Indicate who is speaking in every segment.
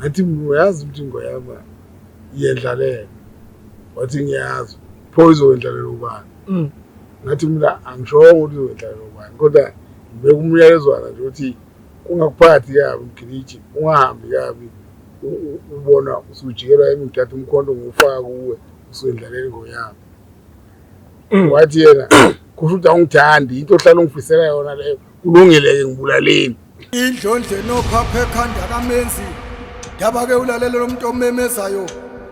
Speaker 1: ngathi uyazi ukuthi ngoyama iyendlalela wathi ngiyazi pho izowendlalela ubani mm. ngathi mina angishongo ukuthi izowendlalela ubani kodwa ngibeka umyalezwana nje ukuthi kungakuphathi kabi mgiliji ungahambi kabi ubona usujikelwa yimi ngithatha umkhonto ngiwufaka kuwe usuyendlalela ingoyami mm. wathi yena kusho ukuthi awungithandi into ohlala ungifisela yona leyo Kulungile-ke ngibulaleni. Indlondle
Speaker 2: nophapha ekhanda kamenzi ndaba ke ulalele lo muntu omemezayo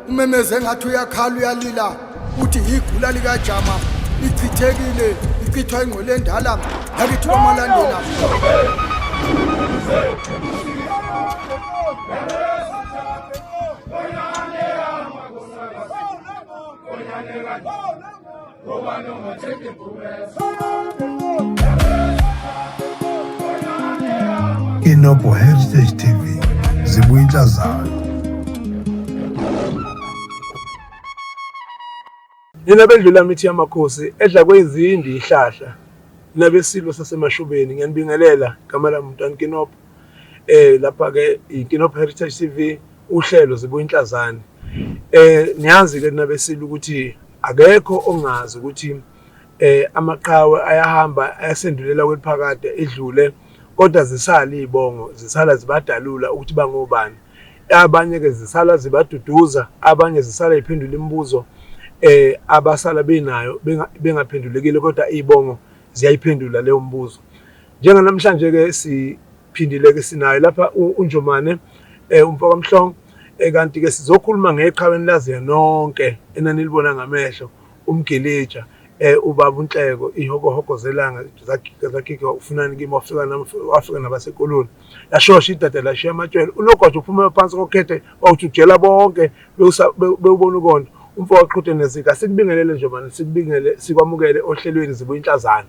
Speaker 2: umemeze engathi uyakhala uyalila uthi yigula likajama lichithekile lichithwa ingqwele endala yakithi kwamalandela
Speaker 3: Inobo Heritage TV zibuya intsha zayo.
Speaker 4: Nina bendlula mithi yamakhosi edla kwezindi ihlahla nabesilo sasemashubeni ngiyanibingelela gama lami mntwana Kinop eh lapha ke iKinop Heritage TV uhlelo zibuya inhlazane eh niyazi ke nabesilo ukuthi Akekho ongazi ukuthi eh amaqhawe ayahamba ayasendulela kweliphakade edlule kodwa zisala izibongo zisala zibadalula ukuthi bangobani abanye ke zisala zibaduduza abanye zisala iphendula imibuzo eh abasala benayo bengaphendulekile kodwa izibongo ziyayiphendula leyo mbuzo njenga namhlanje ke si Phindile-ke sinaye lapha uNjomane um umfoka Mhlongo um kanti-ke sizokhuluma ngeqhawe enilaziyo nonke enanilibona ngamehlo umgilitsha um ubaba unhleko ihokohoko zelanga zagigwa ufunani kimi wafika nami wafika nabasekoloni yashosha idada lashiya amatshwele unogwaja uphuma phansi kokhethe wawujujela bonke bewubona ukonto umfo waqhuthe nezika sikubingelele nje mani sikubingele sikwamukele ohlelweni zibuye inhlazana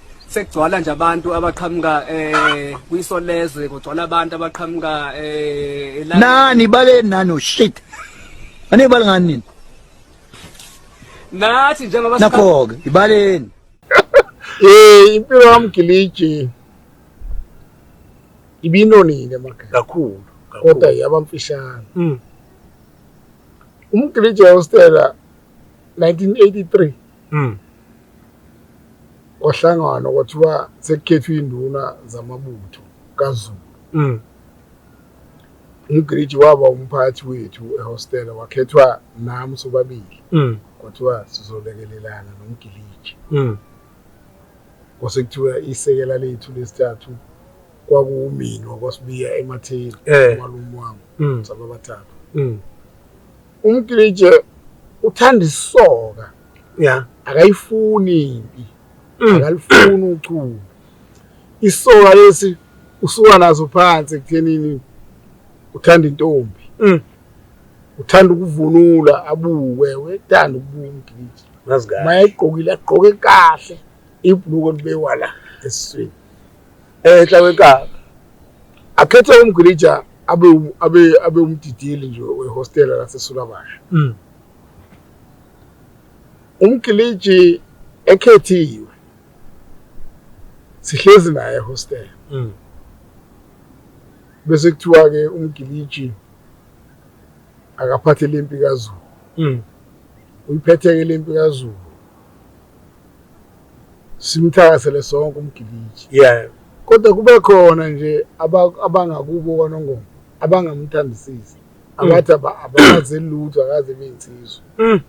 Speaker 5: sekugcwala nje abantu abaqhamuka eh kwisolezwe kugcwala abantu abaqhamuka eh
Speaker 6: nani bale nani shit ane bale ngani nini
Speaker 5: nathi njengoba nakho ke ibaleni
Speaker 6: eh
Speaker 1: impilo yamgiliji ibinonile maka kakhulu kodwa yabamfishane mm. umgiliji yostela 1983 mm. kwahlanganwa kwathiwa sekukhethwa iy'nduna zamabutho kazulu mm. umgiriji waba umphathi wethu ehostela wakhethwa nami sobabili mm. kwathiwa sizolekelelana nomgiliji mm. kwasekuthiwa isekela lethu lesithathu kwakuwumini wakwasibiya ematheni eh. umalume wami mm. sababathathu mm. Umklitshe uthanda isoka. Yeah. Akayifuni impi. Mm. Akalifuni uchuku. Isoka lesi usuka nazo phansi ekuthenini uthanda intombi. Mm. Uthanda ukuvunula abuke, wethanda ukubuka umklitshe. Nazi kahle. Mayegqokile
Speaker 4: agqoke
Speaker 1: kahle ibhluko libekwa la esiswini. Ehla
Speaker 4: wenkaba akhethe
Speaker 1: umgilija abe abe abe umdidili nje wehostela laseSulabasha. Mm. Umgiliji ekhethiwe sihlezi naye ehostel mm. bese kuthiwa ke umgiliji akaphathe lempi kaZulu mm. uyiphethe ke lempi kaZulu simthakasele sonke umgiliji yeah kodwa kube khona nje abangakubo kwanongoma abangamthandisisi mm. abathi abazi lutho akaze beyinsizwa mm.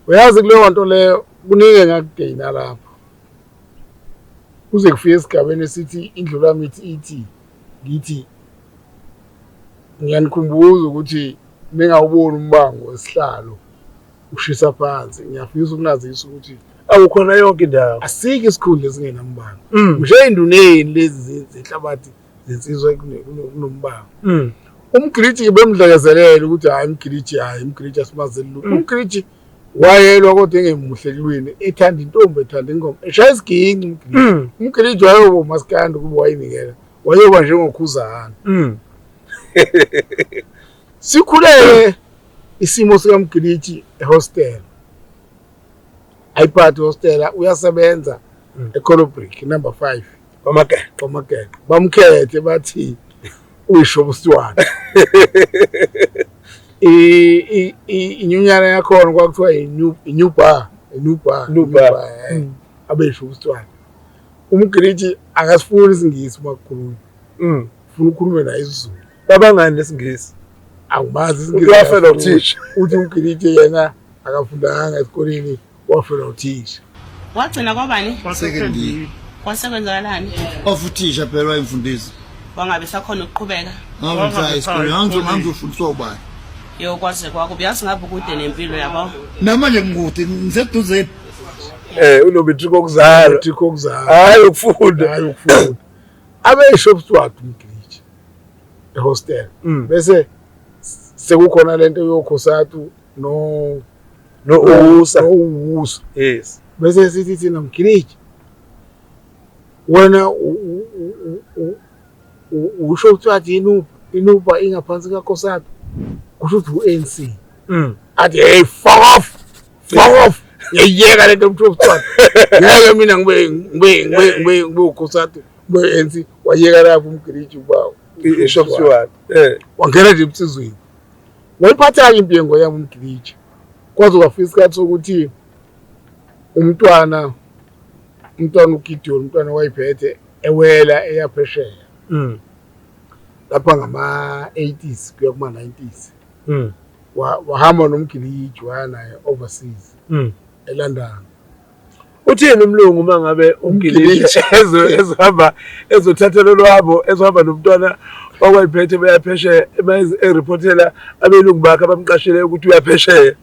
Speaker 1: uyazi kuleyo nto leyo kuningi engakugeyina lapho kuze kufike esigabeni esithi indlulamithi ithi ngithi ngiyanikhumbuza ukuthi ningawuboni umbango wesihlalo ushisa phansi ngiyafisa ukunazisa ukuthi awukhona yonke
Speaker 4: indawo asike isikhundla
Speaker 1: esingenambango mm. ngisho ey'nduneni lezi zehlabathi zensizwa kunombango mm. umgiliji bemdlekezelele ukuthi hhayi umgiliji hhayi umgiliji asimazeli lutho mm. umgiliji wayelwa kodwa engemuhle kulwini ethanda intombi ethanda ingoma eshaya isiginci umgiliji umgiliji wayoba umasikandi ukuba wayinikela wayoba njengokhuzahana sikhulele Isimo sikamgilitshi ehostel ayiphathi hostela uyasebenza mm. ecolobrik number five kwamageqe bamkhethe bathi uyisho ubusiwana inyunyana yakhona kwakuthiwa i-new bar i-new bar new bar eh. mm. abesho ubusiwana umgilitshi akasifuni isingisi uma kukhulunywa mm. ufuna ukhulume naye isizulu Cabangani lesingisi?
Speaker 4: Angimazi
Speaker 1: isingisi. Uyafela uthisha.
Speaker 4: Uthi uGilide
Speaker 1: yena akafundanga esikoleni wafela uthisha. Wagcina kwabani?
Speaker 7: Kwasekendini.
Speaker 8: Kwase kwenzakalani?
Speaker 7: Ofuthisha
Speaker 8: phela wayemfundisi. Wangabe sakhona
Speaker 7: ukuqhubeka. Ngangizaya esikoleni,
Speaker 8: ngangizofundiswa ubani? Yo kwaze
Speaker 7: kwakubi yazi ngabe ukude nempilo yabo. Namanje ngikude
Speaker 8: ngiseduze. Eh
Speaker 4: unometric okuzala. Unometric okuzala. Hayi ukufunda. Hayi ukufunda. Abe
Speaker 1: shop steward umgili. ehostel mm. bese sekukhona lento yokhosatu no no uwusa no uwusa yes bese
Speaker 4: sithi thina
Speaker 1: mgiliji wena usho ukuthi wathi inuba inuba ingaphansi kakhosatu kusho ukuthi u-ANC mm. athi hey fuck off fuck off ngiyayiyeka lento mntu wobuswana ngeke mina ngibe ngibe ngibe ngibe ngibe ukhosati ngibe ANC wayeka lapho umgiliji ubawo isho kusiwani
Speaker 4: eh wangena
Speaker 1: nje ebusizweni wayiphathanga impi yengo yami umgiliji kwaze kwafika isikhathi sokuthi umntwana umntwana uGideon umntwana wayiphethe ewela eyaphesheya mm lapha ngama 80s kuya kuma 90s mm. wahamba wa nomgiliji waya naye overseas mm. eLondon
Speaker 4: uthini umlungu uma ngabe umgiliji ezohamba ezothatha lolwabo ezohamba nomntwana wakwayiphethe beyaphesheya ereportela abelungu bakhe abamqashile ukuthi uyaphesheya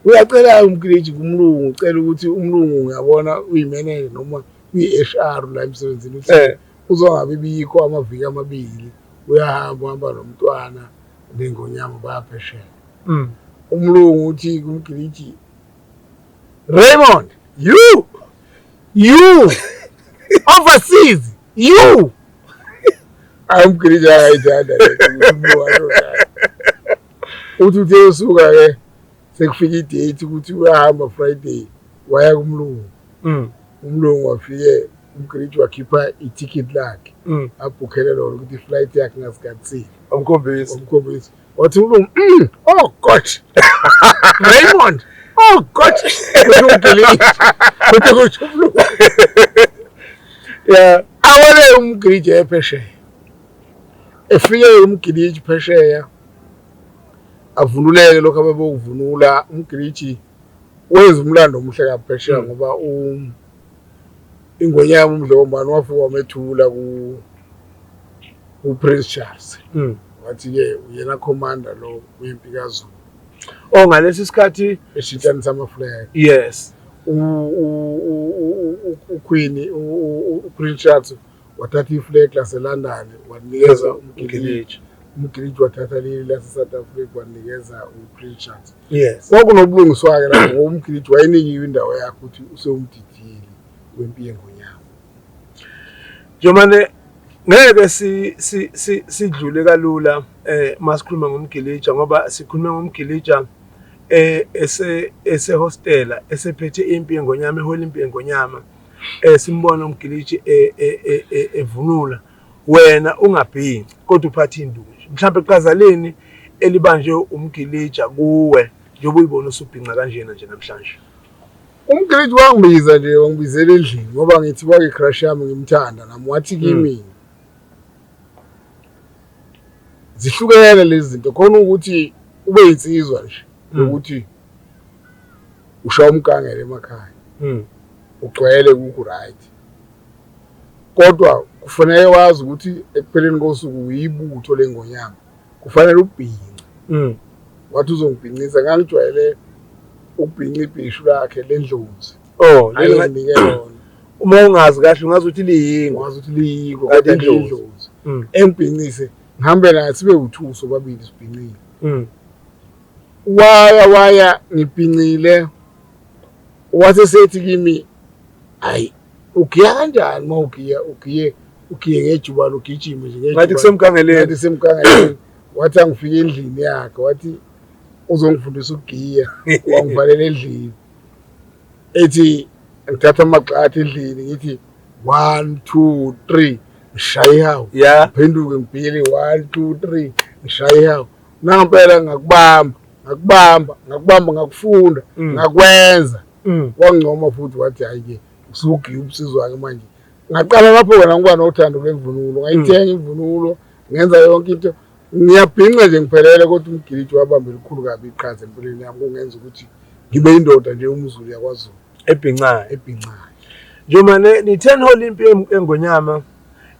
Speaker 4: uyacela umgiliji kumlungu ucela ukuthi umlungu ngiyabona uyimenele noma uyi-h r la emsebenzini uthi eh. Kuzongabi bikho amaviki amabili uyahamba uhamba nomntwana nengonyama bayaphesheya. Mm. Umlungu uthi kumgiliji Raymond, you you overseas you ayimgiliji ayayithanda uthi uthi usuka ke sekufika idate ukuthi uyahamba friday waya kumlungu mm. umlungu wafike umgridi wakhipha ithikithi lakhe mm. abhukhele lona ukuthi iflight yakhe ngasikhathile omkhombisi omkhombisi wathi
Speaker 1: umlungu mm, oh god raymond oh god kuthi kusho umlungu ya awale umgridi ephesheya efike umgiliji phesheya avunuleke lokho abebokuvunula umgiliji wenza umlando omuhle kaphesheya hmm. ngoba ingwenya yami umdlokombani wafika wamethula ku-prince charles hmm. wathi-ke uyena commander lo wempi kazulu o oh, ngalesi
Speaker 4: sikhathi eshintshanisa amafuleka
Speaker 1: yes
Speaker 4: ukhwini
Speaker 1: u-prince charles wathatha iflegi laselondon walinikeza umgiliji umgiliji wathatha leli lasesouth africa walinikeza uprichard yes kwakunobulungiswa-ke
Speaker 4: lapho
Speaker 1: ngoba umgiliji wayenikiwe indawo yakhe ukuthi usewumdidili wempi yengonyama njomane
Speaker 4: ngeke si si si sidlule kalula eh masikhuluma ngomgilija ngoba sikhuluma ngomgilija eh ese ese hostela esephethe impi yengonyama ehola impi yengonyama eh simbona umgilitshi eh, eh, eh, evunula wena ungabhinci kodwa uphatha induku nje mhlawumbe qazaleni elibanjwe umgilitsha kuwe njengoba uyibona usubhinca kanjena nje namhlanje umgilitshi
Speaker 1: wangibiza nje wangibizela endlini ngoba ngithi kwake crush yami ngimthanda nami wathi hmm. kimi zihlukene lezi zinto khona ukuthi ube insizwa nje hmm. ukuthi ushaya umgangela emakhaya hmm. ugcwele kuku right kodwa kufanele wazi ukuthi ekupheleni kosuku uyibutho lengonyama kufanele ubhince hmm. wathi uzongibhincisa ngangijwayele ukubhinca ibhishu lakhe lendlozi oh ayinikele yona uma ungazi
Speaker 4: kahle ungazi ukuthi liyingo ungazi ukuthi liyingo
Speaker 1: kade indlozi hmm. engibhincise ngihambe naye sibe uthuso babili sibhincile waya waya ngibhincile wase sethi kimi hayi ugiya kanjani uma ugiya ugiye ugiye ngejubane ugijime nje ngathi kusemgangeleni ngathi
Speaker 4: kusemgangeleni wathi angifike
Speaker 1: endlini yakhe wathi uzongifundisa ukugiya wangivalela endlini ethi ngithatha amagxathi endlini ngithi one two three ngishaye ihawu yeah. phenduke ngibhiyele one two three ngishaye ihawu Nangempela ngakubamba, ngakubamba, ngakubamba ngakufunda, mm. ngakwenza. Mm. Wangcoma futhi wathi hayi ke usugiya umsizi wake manje. Ngaqala lapho wena ngoba nothando lwemvunulo, ngayithenga mm. imvunulo, ngenza yonke into. Ngiyabhinca nje ngiphelele kodwa umgiliji wabamba elikhulu kabi iqhaza empilweni yami kungenza ukuthi ngibe indoda nje umzulu yakwaZulu. Ebhincayo.
Speaker 4: Ebhincayo.
Speaker 1: Njengoba ne-ten hall
Speaker 4: impi engonyama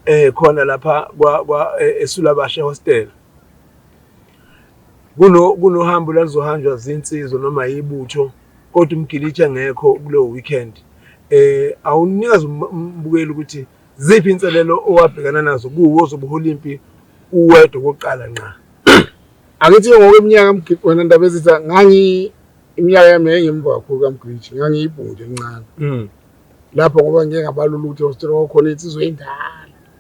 Speaker 4: eh khona lapha kwa kwa e, esulabashe hostel Kunohambo oluzohanjwa zinsizwa noma yibutho kodwa umgilitsha ngekho kuleyo weekend eh awunikazi um, um, umbukeli ukuthi ziphi inselelo owabhekana nazo kuwo ozobuhola impi uwedwa kokuqala nqa angithi
Speaker 1: ngokweminyaka mgidi wena ndaba ezitha ngangi iminyaka yami yayingemva kakhulu kamgilitsha ngangiyibhunti elincane mm. lapho ngoba ngike ngabalula ukuthi ostrokhona insizwa endala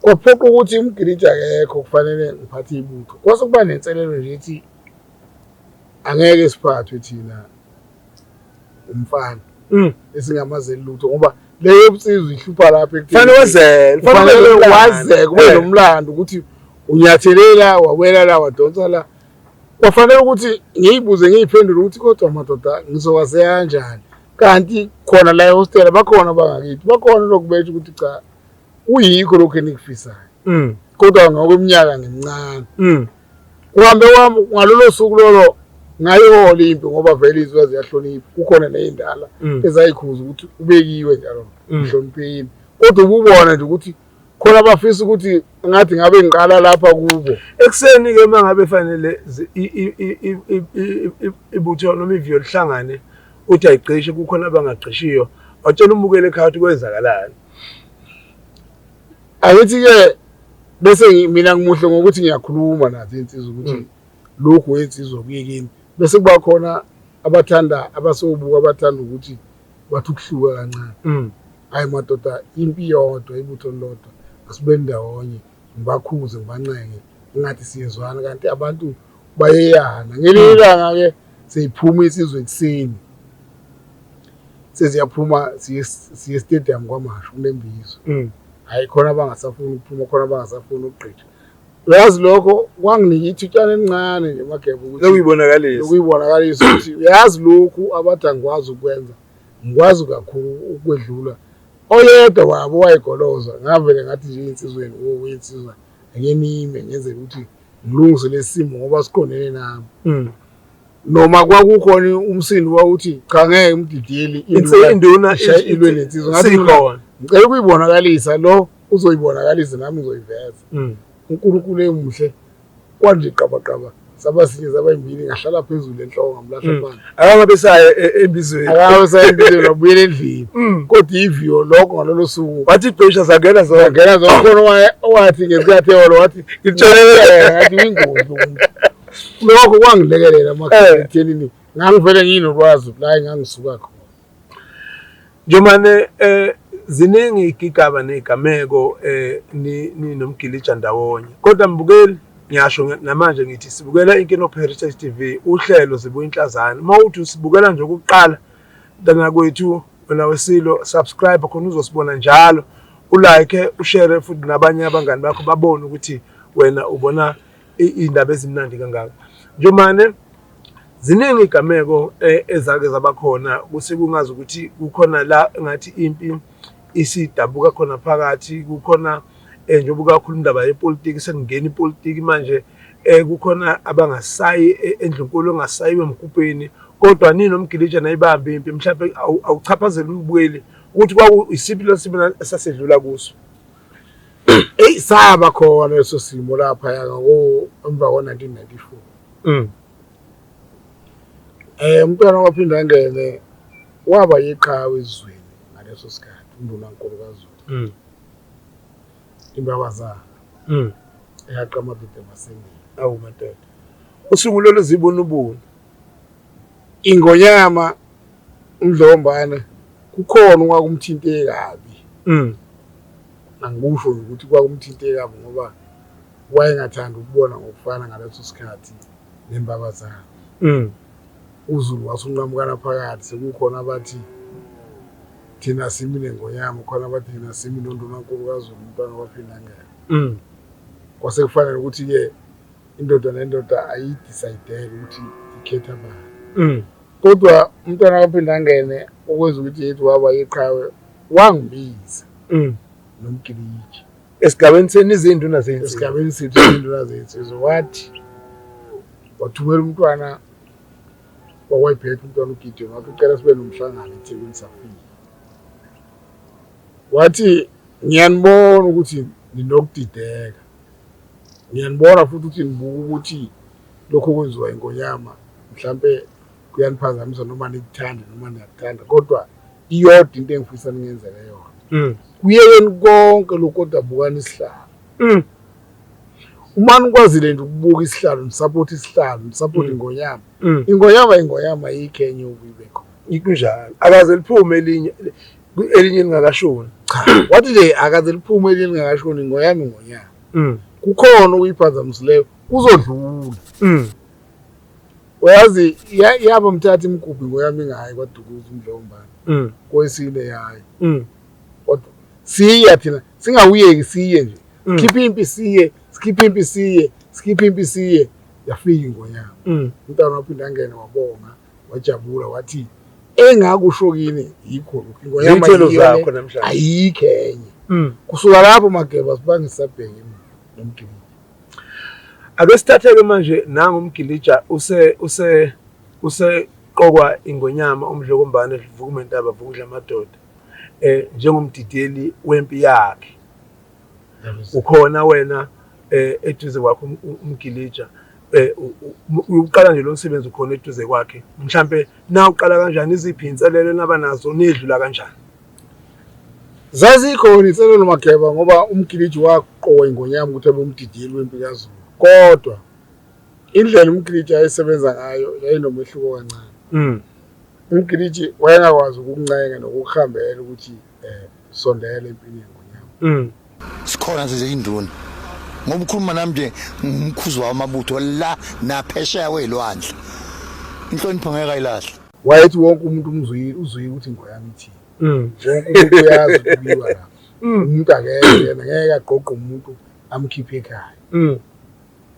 Speaker 1: Kwaphoqa ukuthi umgiliji akekho kufanele ngiphathe ibutho. Kwase kuba nenselelo nje ethi angeke siphathwe thina umfana mm. esingamazeli lutho ngoba leyo yobunsizwa ihlupha lapho ekufanele wazele kufanele
Speaker 4: wazeke
Speaker 1: kube eh. nomlando ukuthi unyathelela wawela la wadonsa la kwafanele ukuthi ngiyibuze ngiyiphendule ukuthi kodwa madoda ngizowazeka kanjani kanti khona la ehostela bakhona bangakithi bakhona lokubetsha ukuthi cha kuyikho lokhu enikufisayo mm. kodwa ngokweminyaka ngimncane mm. kuhambe kwami ngalolo suku lolo ngayihola impi ngoba vele izinto ziyahlonipha kukhona neyindala mm. ezayikhuza ukuthi ubekiwe njalo mhloniphekile kodwa ububona nje ukuthi khona abafisa ukuthi ngathi ngabe ngiqala lapha kubo ekuseni ke uma
Speaker 4: ngabe fanele ibutho noma iviyo lihlangane uthi ayigcishe kukhona abangagcishiyo watshela umukeli ekhaya ukuthi kwenzakalani
Speaker 1: angithi-ke bese mina ngimuhle ngokuthi ngiyakhuluma nathi insizwa ukuthi hmm. lokhu wensizwa kuyekini bese kuba khona abathanda abasobuka abathanda ukuthi bathi ukuhluka kancane hmm. hayi madoda impi yodwa ibutho lodwa asibe ndawonye ngibakhuze ngibancenge ngathi siyezwana kanti abantu bayeyana ngelinye hmm. ilanga ke seyiphuma isizwe ekuseni seziyaphuma siye stadium kwamasho kunembizo hmm. hayi khona abangasafuni ukuphuma khona abangasafuni ukugqitha uyazi lokho kwanginika ithutshana elincane nje mageba ukuthi lokuyibonakalisa lokuyibonakalisa ukuthi uyazi lokhu abadangikwazi ukwenza ngikwazi kakhulu ukwedlula Oyedwa wabo wayegoloza ngavele ngathi nje insizweni woku insizwa ake nime ngenzela ukuthi ngilungise lesimo ngoba siqondene nami. Mm. Noma kwakukhona umsindo wawuthi cha ngeke umdidiyeli induna ishaye
Speaker 4: ilwe lensizwa
Speaker 1: ngathi khona. Ngicela ukuyibonakalisa lo uzoyibonakalisa nami ngizoyiveza. Mm. uNkulunkulu emuhle Kwanje qabaqaba saba sinye saba imbini ngahlala phezulu enhloko ngamlahla mm. phansi akangabe saye e,
Speaker 4: embizweni akangabe saye embizweni wabuyela endlini
Speaker 1: mm. kodwa iviyo lokho ngalolo suku wathi ibhesha zangena
Speaker 4: zonke zangena zonke khona
Speaker 1: wathi ngesikhathi eholo wathi ngitshelele ngathi wingozi umuntu lokho kwangilekelela eh. makhatheni ngangivele nginolwazi la engangisuka khona Njomane
Speaker 4: ziningi igigaba ney'gameko ninomgilija ndawonye. Kodwa mbukeli, ngiyasho namanje ngithi sibukela Inkinopho Heritage TV, uhlelo Zibuya Inhlazane. Uma uthi usibukela nje okokuqala, mntanakwethu wena weSilo, subscribe khona uzosibona njalo, u-like, ushere futhi nabanye abangani bakho babone ukuthi wena ubona iy'ndaba ezimnandi kangaka njomane ziningi iy'gameko eh, ezake zaba khona kuthi kungazi ukuthi kukhona la engathi impi isidabuka khona phakathi kukhona eh, njengoba ukakhuluma indaba yepolitiki sekungena ipolitiki manje eh kukhona abangasayi eh, endlunkulu ongasayiwe emgubheni kodwa nini omgilija nayibambe impi mhlawumbe awuchaphazeli umbukeli ukuthi kwakuyisiphi lesimo esasedlula kuso eyi saba
Speaker 1: khona leso simo laphaya emva ko-1994 um mm. umntwana waphinde angene waba yiqhawe ezweni ngaleso sikhathi undunankulu kazulu mm. imbabazana mm. eyaqamabide masengile awumatete
Speaker 4: usungulele zibunubunu Ingonyama
Speaker 1: uNdlombana kukhona okwakumthinte kabi. Mm. Angikusho ukuthi kwakumthinte kabi ngoba wayengathanda ukubona ngokufana ngaleso sikhathi nembabazana. Mm. uZulu wasunqamukana phakathi sekukhona abathi thina simi nengonyama khona abathi thina simi nondunankulu kaZulu umntwana waphindangela mm. kwase kufanele ukuthi-ke indoda nendoda ayidisayidele ukuthi ikhetha bani mm. kodwa umntwana kaphinde angene okwenza ukuthi yethu waba yeqhawe wangibiza mm. nomgiliji esigabeni
Speaker 4: senu izinduna zethu esigabeni sethu izinduna
Speaker 1: zethu so wathi wathumela umntwana wakwayiphetha umntwana ugideon wathi ucela sibe nomhlangano ethekwini safika wathi ngiyanibona ukuthi ninokudideka Ngiyanibona futhi ukuthi nibuka ukuthi lokhu okwenziwa iNgonyama mhlampe kuyaniphazamisa noma nikuthande noma niyakuthanda kodwa iyodwa into engifisa ningenzele yona mm. kuyekeni konke lokhu kodwa bukani isihlalo mm. uma nikwazile nje ukubuka isihlalo nisapothe isihlalo nisapothe mm. ingonyama ingonyama ingonyama yikhenye ukuyibe khona ikunjalo
Speaker 4: akaze liphume elinye elinye lingakashoni cha wathi
Speaker 1: nje akaze liphume elinye lingakashoni ngoyami ngonyaka mm. kukhona okuyiphazamisileyo kuzodlula mm. uyazi yaba mthatha imgubhi ngoyami ngayo kwadukuza umdlombane mm. kwesine yayo kodwa siya thina singawuyeki siye nje sikhiphe impi siye sikhiphe impi siye sikhiphe impi siye yafika ingonyama umntana waphinde angene wabonga wajabula wathi engakusho kini yikho lokhu Iy'thelo zakho namhlanje.
Speaker 4: ayikho enye
Speaker 1: Mm. kusuka lapho mageba sibangisabheki nomgilija
Speaker 4: Ake sithathe-ke manje nangu umgilija use use useqokwa ingonyama umdlokombane vukumentaba vukudla amadoda eh njengomdideli wempi yakhe ukhona wena eh eduze kwakho um- um- umgilija eh, uqala nje lo msebenzi ukhona eduze kwakhe mhlampe na uqala kanjani iziphi inselelo naba nazo nedlula kanjani zazikhona
Speaker 1: inselelo mageba ngoba umgiliji waqoka ingonyama ukuthi abe umdidiyeli wempilo yazulu kodwa indlela umgiliji ayesebenza ngayo yayinomehluko kancane mm. umgiliji wayengakwazi ukuncenga nokuhambela ukuthi um sondela empini yengonyama sikhona size
Speaker 8: induna ngoba ukhuluma nami nje ngumkhuzi wawo amabutho la naphesheya kweyilwandle inhlonipho ngeke ayilahle wayethi wonke umuntu
Speaker 1: umzwile uzwile ukuthi ngoyami ithini mm. wonke umuntu uyazi ukubiwa lapho mm. umuntu akekho yena ngeke agqogqe umuntu amkhiphe ekhaya mm.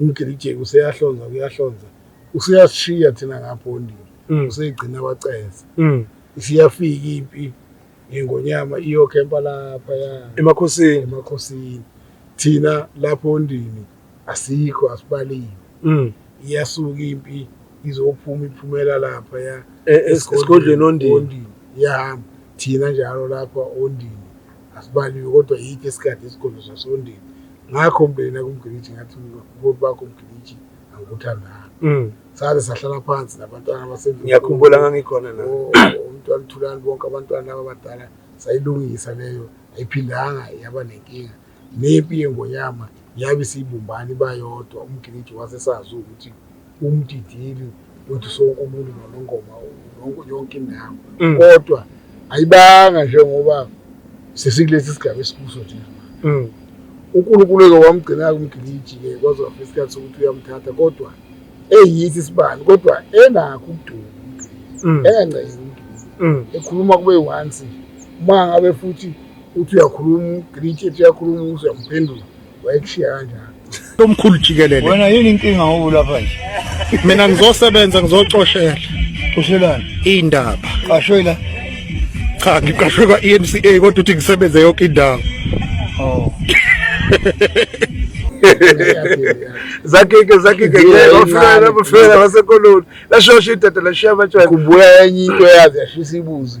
Speaker 1: umgirijeki useyahlonza kuyahlonza useyasishiya thina ngapho ondini mm. useyigcina abaceza mm. isiyafika impi ngengonyama iyokhempa lapha ya emakhosini emakhosini thina lapho ondini asikho asibaliwe mm. iyasuka impi izophuma iphumela lapha ya e, e, esigodlweni
Speaker 4: ondini iyahamba
Speaker 1: thina njalo lapha ondini asibaliwe kodwa yithi esikade esigodlo sasondini ngakho mndeni nakumgiliji ngathi ubuholi bakho mgiliji angikuthandanga mm. saze sahlala phansi nabantwana abasengiyakhumbula ngangikhona
Speaker 4: na oh, umntwana uthulani
Speaker 1: bonke abantwana laba abadala sayilungisa leyo ayiphindanga yaba nenkinga nempi yengonyama Yabe isiyibumbana iba yodwa umgiliji wase sazi ukuthi umdidili wethu sonke umuntu nonongoma nonke yonke indawo mm. kodwa ayibanga njengoba sesikulesi sigaba esikuso nje mm. uNkulunkulu eke wamgcina-ke umgiliji-ke kwaze wafika isikhathi sokuthi uyamthatha kodwa eyisi isibani kodwa enakho ukuduka mm. enganceki umgiliji ekhuluma kube once uma ngabe futhi uthi uyakhuluma ugritshe ethi uyakhuluma ukuze uyamphendula wayekushiya kanjani lomkhulu jikelele
Speaker 9: wena yini inkinga ngoku
Speaker 6: lapha nje mina ngizosebenza
Speaker 9: ngizocoshela coshelani
Speaker 6: iy'ndaba
Speaker 9: qashwe la
Speaker 6: cha
Speaker 9: ngiqashwe kwa-e n c a kodwa ukuthi ngisebenze yonke indawo oh.
Speaker 4: zakhike zakhike ofela bafela basekoloni lashosha idoda lashiya abatshwala kubuya enye into
Speaker 1: yazi yashisa ibuzi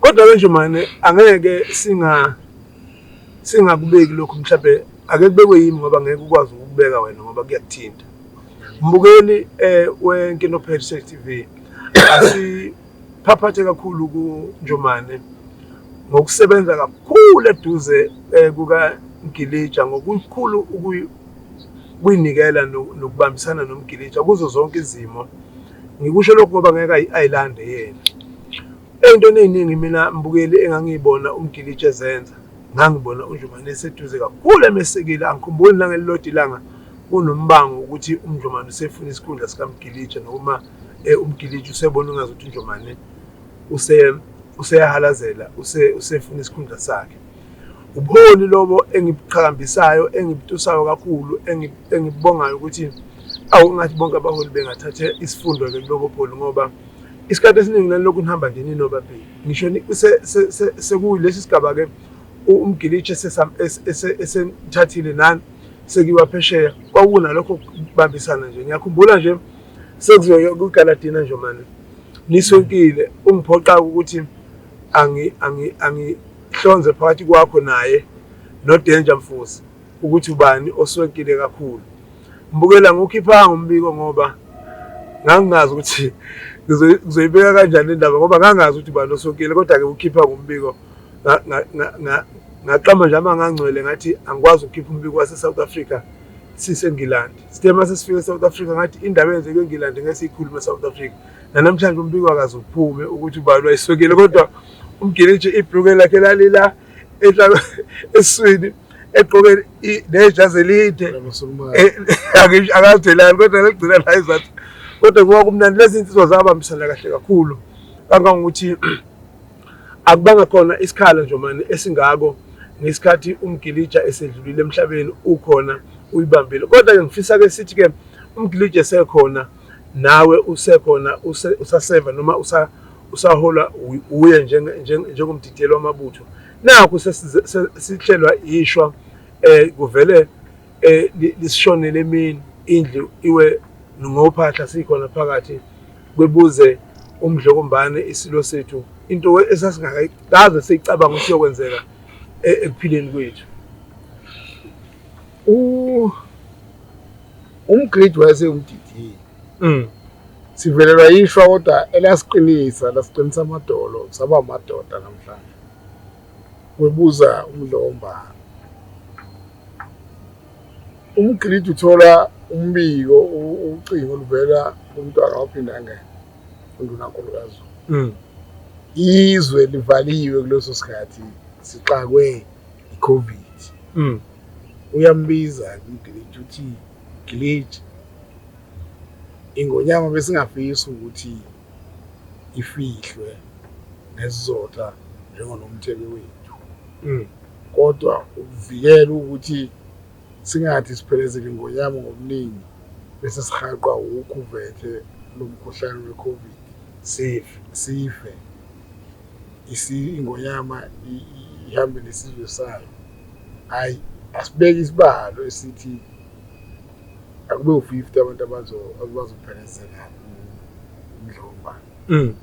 Speaker 1: Kodwa-ke
Speaker 4: nje mane angeke singa singakubeki lokhu mhlawumbe ake kubekwe yimi ngoba ngeke ukwazi ukubeka wena ngoba kuyakuthinta. Mbukeli eh weNkino Page TV asiphaphathe kakhulu kuNjomane ngokusebenza kakhulu eduze eh, kuka Ngilija ngokukhulu ukuyinikela nokubambisana nomgilija kuzo zonke izimo Ngikusho lokhu ngoba ngeke ayilande yena. Ey'ntweni ey'ningi mina mbukeli engangiyibona umgilitshe ezenza ngangibona uNdlumane eseduze kakhulu emesekile angikhumbuli nangelilodwa ilanga kunombango ukuthi uMndlumane usefuna isikhundla sikamgilitshe noma eh, umgilitshe usebona ungazi ukuthi uNdlumane useyahalazela usefuna isikhundla sakhe Ubuholi lobo engibuqhakambisayo engibutusayo kakhulu engibongayo ukuthi awu ngathi bonke abaholi bengathatha isifundo ke kulobo bholi ngoba isikhathi esiningi nalokhu nihamba nje ninobabili ngisho sekulesi sigaba ke umgilitshe esenithathile nani sekiwa phesheya kwakunalokho kubambisana nje ngiyakhumbula nje sekuzoye kugaladina nje manje nisonkile ungiphoqa ukuthi angi angi angi Hlonze phakathi kwakho naye noDanger Mfusi ukuthi ubani oswenkile kakhulu. Mbukela ngukhiphanga umbiko ngoba ngangingazi ukuthi ngizoyibeka kanjani indaba ngoba ngangazi ukuthi ubani oswenkile kodwa-ke ukhipha ngombiko ngaqamba nje amangangcwele ngathi angikwazi ukukhipha umbiko wase-south africa sisengilandi sithe uma sesifika e-south africa ngathi indaba eyenzeke engilandi ngesiyikhuluma e-south africa nanamhlanje umbiko akaze uphume ukuthi ubani wayiswekile kodwa umgiliji ibhruke lakhe lalila enhlalo eswini egqoke nejazi elide eh, akazelani kodwa legcina la izathu kodwa kuba kumnandi lezi nsizwa zabambisana kahle kakhulu kangangokuthi akubanga khona isikhala nje mani esingako ngesikhathi umgilija esedlulile emhlabeni ukhona uyibambile kodwa ke ngifisa ke sithi ke umgilija esekhona nawe usekhona usaseva noma usa usaholwa wuye njengomdidiyeli wamabutho nakhu sesihlelwa ishwa um eh, kuvele um eh, lisishonele emini indlu iwe ngophahla sikhona phakathi kwebuze umdlokombane isilo sethu into esasingakaze siyicabanga ukuthi yokwenzeka e-, ekuphileni kwethu U
Speaker 1: umgridi wayesewumdidile. Mm. Sivelelwa yishwa kodwa elasiqinisa lasiqinisa amadolo saba amadoda namhlanje. Webuza umlomba. Umgridi uthola umbiko ucingo oluvela kumntwana waphinda ngeke undunankulu kaZulu. Mm. izwe livaliwe kuleso sikhathi sixakwe iCovid. Mm. Uyambiza uGlitch uthi Glitch ingonyama besingafisa ukuthi ifihlwe nesizotha njengonomthebe wethu. Mm. Kodwa ukuvikela ukuthi singathi siphelezele ingonyama ngobuningi bese sihaqwa wukhuvethe lomkhuhlane weCovid. Sife. Sife. Ingonyama ihambe nesizwe sayo. Hhayi, asibeke isibalo esithi akube u-fifty abantu abazophelezela umdlomba. Mm.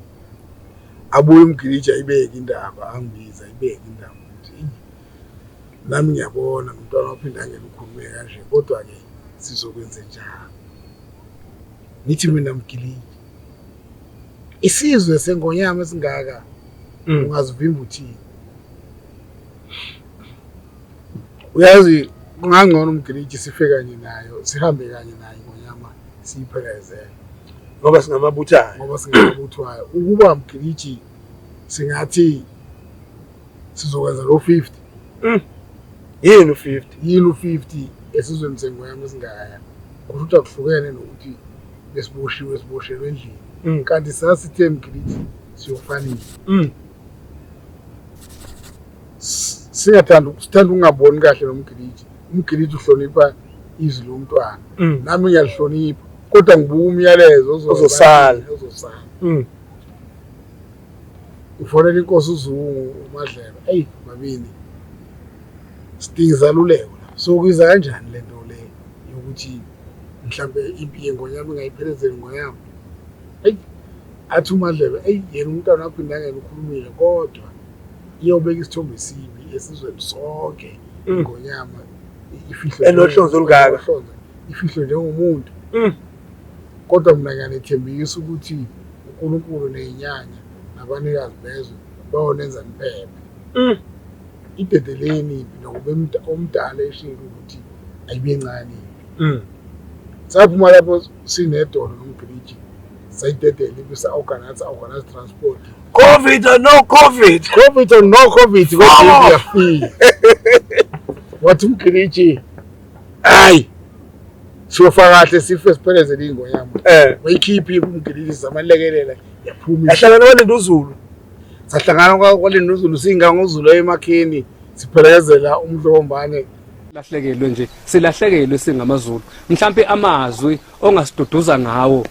Speaker 1: Abuye umgiliji ayibeke indaba, angibize ayibeke indaba ukuthi nami ngiyabona ngumntwana waphinde angeke ukhulume kanje kodwa-ke sizokwenze njani. Ngithi mina mgiliji Isizwe sengonyama esingaka mm. ungazivimba uthini? Uyazi kungangcono umgiliji sife kanye nayo sihambe kanye nayo ingonyama siyiphelezele ngoba
Speaker 4: singamabuthayo ngoba
Speaker 1: singamabuthayo ukuba mgiliji singathi sizokwenza lo 50 Mm.
Speaker 4: Yini u-50? Yini u-50
Speaker 1: esizweni sengwema esingaka? Kusho ukuthi akuhlukene nokuthi besiboshiwe siboshelwe endlini. Mm. Kanti sasithe mgiliti siyofanile. Mm. Singathanda sithanda ungaboni kahle nomgiliti. Umgiliti uhlonipha izwi lomntwana. Mm. Nami ngiyalihlonipha. Kodwa ngibuka umyalezo ozosala.
Speaker 4: Ozosala. Mm.
Speaker 1: ngifonela inkosi uzungu umadlelo eyi mabini sidinga izaluleko so kuyiza kanjani le nto le yokuthi mhlawumbe impi yengonyama ingayiphelezeli ngoyama eyi athi umadlelo eyi yena umntwana wakho indangela ukhulumile kodwa iyobeka isithombe esibi esizweni sonke ingonyama mm. ifihlwe enohlonze olungaka
Speaker 4: ifihlwe
Speaker 1: njengomuntu mm. Kodwa mina ngiyanethembisa ukuthi uNkulunkulu nezinyanya nabanikazi bezwe bayonenza niphephe. Mm. Idedeleni impi nokuba omdala eshilo ukuthi ayibe ncane impi. Mm. Saphuma lapho sinedolo nomgiliji sayidedela impi sa-organize organize transport. Covid or
Speaker 4: no Covid. Covid or no Covid
Speaker 1: kodwa iyafika. Wathi umgiliji hayi siyofa kahle sife siphelezele ingo yami eh wayikhiphi kumgilisa amalekelela yaphuma yahlangana kwalinda uzulu
Speaker 4: sahlangana
Speaker 1: kwalinda uzulu singa ngozulu emakhini siphelezela umdlombane lahlekelwe
Speaker 5: nje silahlekelwe singamazulu mhlambe amazwi ongasiduduza ngawo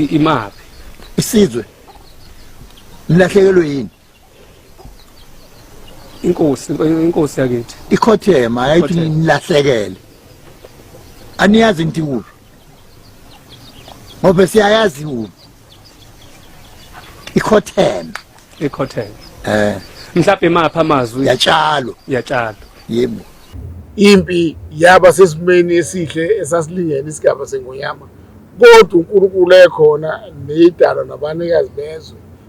Speaker 5: imaphi isizwe
Speaker 6: lilahlekelwe yini
Speaker 5: inkosi inkosi yakithi ikhothema yayithi
Speaker 6: Ikhothema. nilahlekele aniyazi nti kuphi ngoba siyayazi kuphi ikhothema ekhothele eh
Speaker 5: mhlawumbe mapha amazwi yatshalwa
Speaker 6: yatshala yebo impi
Speaker 1: yaba sesimeni esihle esasilingene isigaba sengonyama kodwa unkulunkulu ekhona neyidalwa nabanikazi bezwe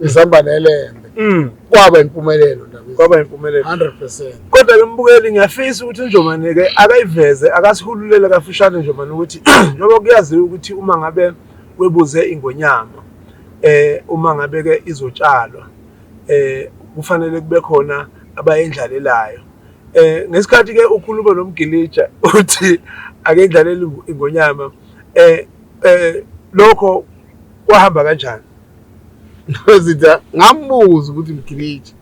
Speaker 1: izamba nelembe mm. kwaba impumelelo kwaba impumelelo 100% kodwa ke mbukeli
Speaker 4: ngiyafisa ukuthi uNjomane ke akayiveze akasihululele kafushane Njomane ukuthi njengoba kuyaziwa ukuthi uma ngabe webuze ingonyama eh uma ngabe ke izotshalwa eh kufanele kube khona abayendlalelayo eh ngesikhathi ke ukhuluma nomgilija uthi ake ndlalele ingonyama eh eh lokho kwahamba kanjani
Speaker 1: Zitha ngambuza ukuthi mgilitshe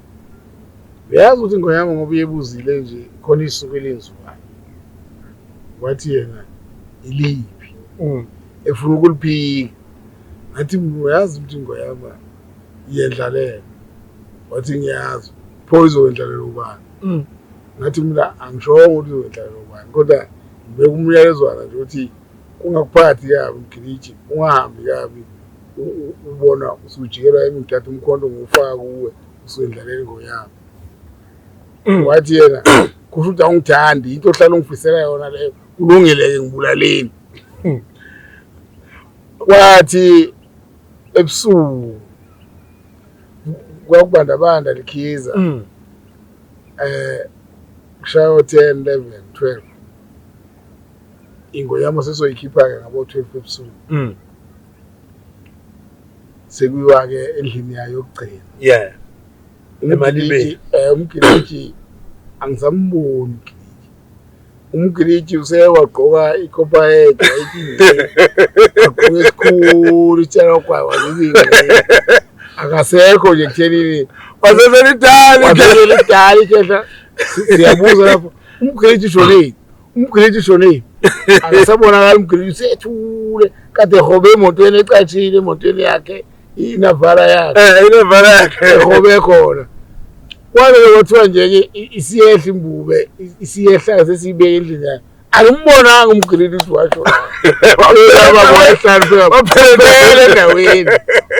Speaker 1: uyazi ukuthi ingoma yami ngoba uyebuzile nje khona isuku elenziwayo wathi yena iliphi mm. efuna ukuliphika ngathi uyazi ukuthi ingoma yami iyendlalela wathi ngiyazi pho izowendlalela ubani mm. ngathi mina angishongo ukuthi izowendlalela ubani kodwa ngibeka umyalezwana nje ukuthi Kungakuphathi kabi mgiliji ungahambi kabi ubona usujikelwa yimi ngithatha umkhonto ngiwufaka kuwe usuyendlaleli ngoyami wathi yena kusho ukuthi awungithandi into ohlala ungifisela yona leyo kulungile-ke ngibulaleni kwathi ebusuku kwakubandabanda likhiza um mm. eh, kushaya o-ten eleven twelve ingo yami sesoyikhipha-ke ngabo-twelve ebusuku mm. sekuyiwa-ke endlini yayo yokugcina yeah
Speaker 4: emalibeni eh, umgiliji
Speaker 1: angisamboni umgiliji usewagqoka ikhopha yedwa agqoke esikhulu itshalakwaya wazizile akasekho nje kuthenini waseselidali waseselidali kehla siyabuza lapho umgiliji ushonile umgiliti ushone yini akasabonakala umgiliti usethule kade ehobe emotweni ecatshile emotweni yakhe inavala yakhe eh inavala yakhe ehobe khona kwabe kwathiwa nje ke isiyehla imbube isiyehla sesiyibeke endlini yakhe angimbonanga umgiliti ukuthi washo waphelele endaweni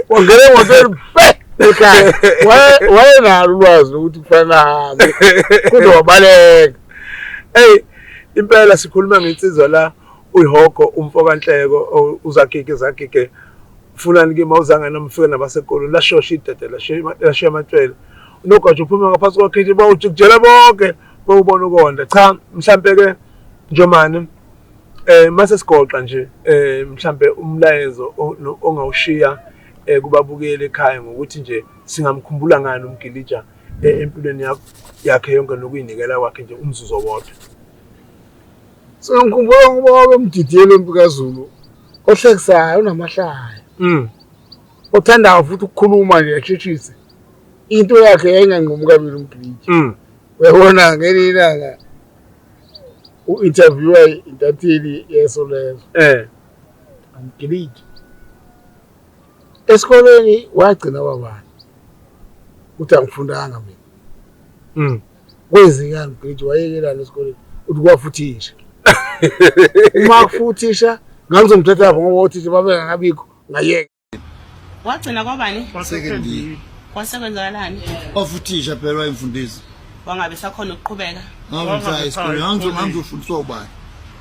Speaker 1: wangena emotweni pe ekhaya wayenalo ulwazi lokuthi kufanele ahambe kodwa wabaleka Hey
Speaker 4: impela sikhuluma ngensizwa la uyihogo umfo kanhleko uzagige zagige fulani ke mawuzanga nomfika nabasekolweni lashosha idede lashiya amatshwele unogatsha uphuma ngaphansi kwakhithi bawujikujela bonke bawubona ukonda cha mhlampe ke njomane um eh, mase sigoqa nje um mhlampe umlayezo ongawushiya um kubabukeli ekhaya ngokuthi nje singamkhumbula ngani umgilija e-, empilweni yakho yakhe yonke nokuyinikela kwakhe nje umzuzu owodwa so
Speaker 1: ngikhumbula ngoba wabemdidiyela empi kazulu ohlekisayo unamahlaya mm. othandayo futhi ukukhuluma nje asheshise into yakhe yayinganqumi kabili umbhiji mm. uyabona ngelinye ilanga u-interviewa intatheli yeso lezo um eh. angigilidi Esikoleni wagcina wabani? Uthi angifundanga mina. Mm. Kwenzekani mgidi wayekelani esikoleni? Uthi kwafuthisha. Uma kufuthisha ngangizomthatha lapho ngoba othisha babengakabikho ngayeka. Wagcina
Speaker 7: kwabani? Kwasekendini.
Speaker 8: Kwasekwenzakalani?
Speaker 7: Kwafuthisha
Speaker 8: phela wayemfundisi. Wangabe sakhona
Speaker 7: ukuqhubeka. Ngangizomthatha esikoleni
Speaker 8: ngangizofundiswa ubani?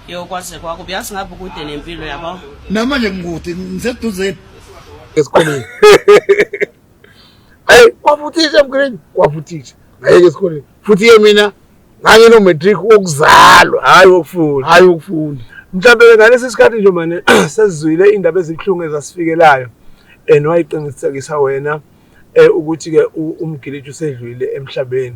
Speaker 8: Yo kwaze
Speaker 7: kwako uyazi ngabe ukude nempilo yabo. Namanje ngikude
Speaker 8: ngiseduze.
Speaker 1: Esikoleni. Hey, kwafuthisha mgrade, kwafuthisha. Ngayeke esikoleni. Futhi ke mina ngangino matric wokuzalwa, hayi wokufunda. Hayi wokufunda. Mhlawumbe ngalesi
Speaker 4: sikhathi nje manje sesizwile indaba ezibuhlungu ezasifikelayo and wayiqinisekisa wena eh ukuthi ke umgiliji usedlwile emhlabeni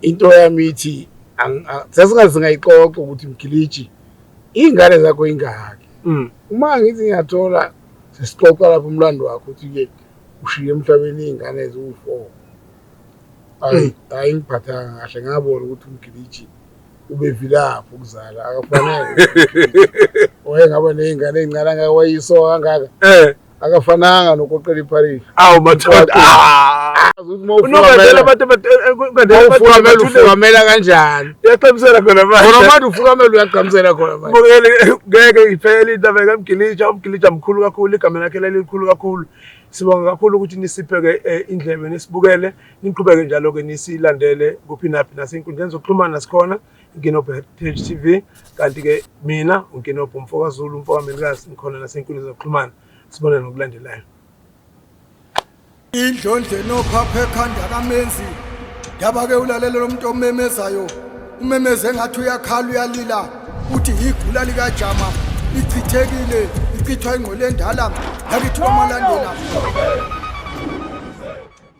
Speaker 1: into yami ithi sasingaze ngayixoxa ukuthi mgiliji iy'ngane zakho ingaki mm. uma ngithi ngiyathola sesixoxa lapho umlando wakho ukuthi-ke ushiye emhlabeni iy'ngane eziwu-four hayi mm. ngiphathanga kahle ngabona ukuthi umgiliji ubevilaphi ukuzala akafanele wayengaba ney'ngane ey'ncane angaka wayiso kangaka eh. akafananga nokoqela ipharisi awu mathanda ah!
Speaker 4: unobandela abantu ufukamela
Speaker 1: kanjani uyaqhamisela khona
Speaker 4: khona manje ufukamela
Speaker 1: uyaqhamisela khona manje ngeke
Speaker 4: iphele indaba kamgilitsha umgilitsha mkhulu kakhulu igama lakhe lelikhulu kakhulu sibonga kakhulu ukuthi nisipheke eh, indlebe nisibukele niqhubeke njalo-ke nisilandele kuphi naphi nasenkundleni zokuxhumana sikhona inkinobho ya-Page TV kanti-ke mina unkinobho umfokazulu umfokamelikazi ngikhona nasenkundla zokuxhumana sibone nokulandelayo
Speaker 2: indlondle nophapha ekhanda kamenzi yaba-ke ulalela lo muntu omemezayo umemeze ngathi uyakhala uyalila uthi yigula likajama ichithekile ichithwa ingqola endala yakithi kwamalandela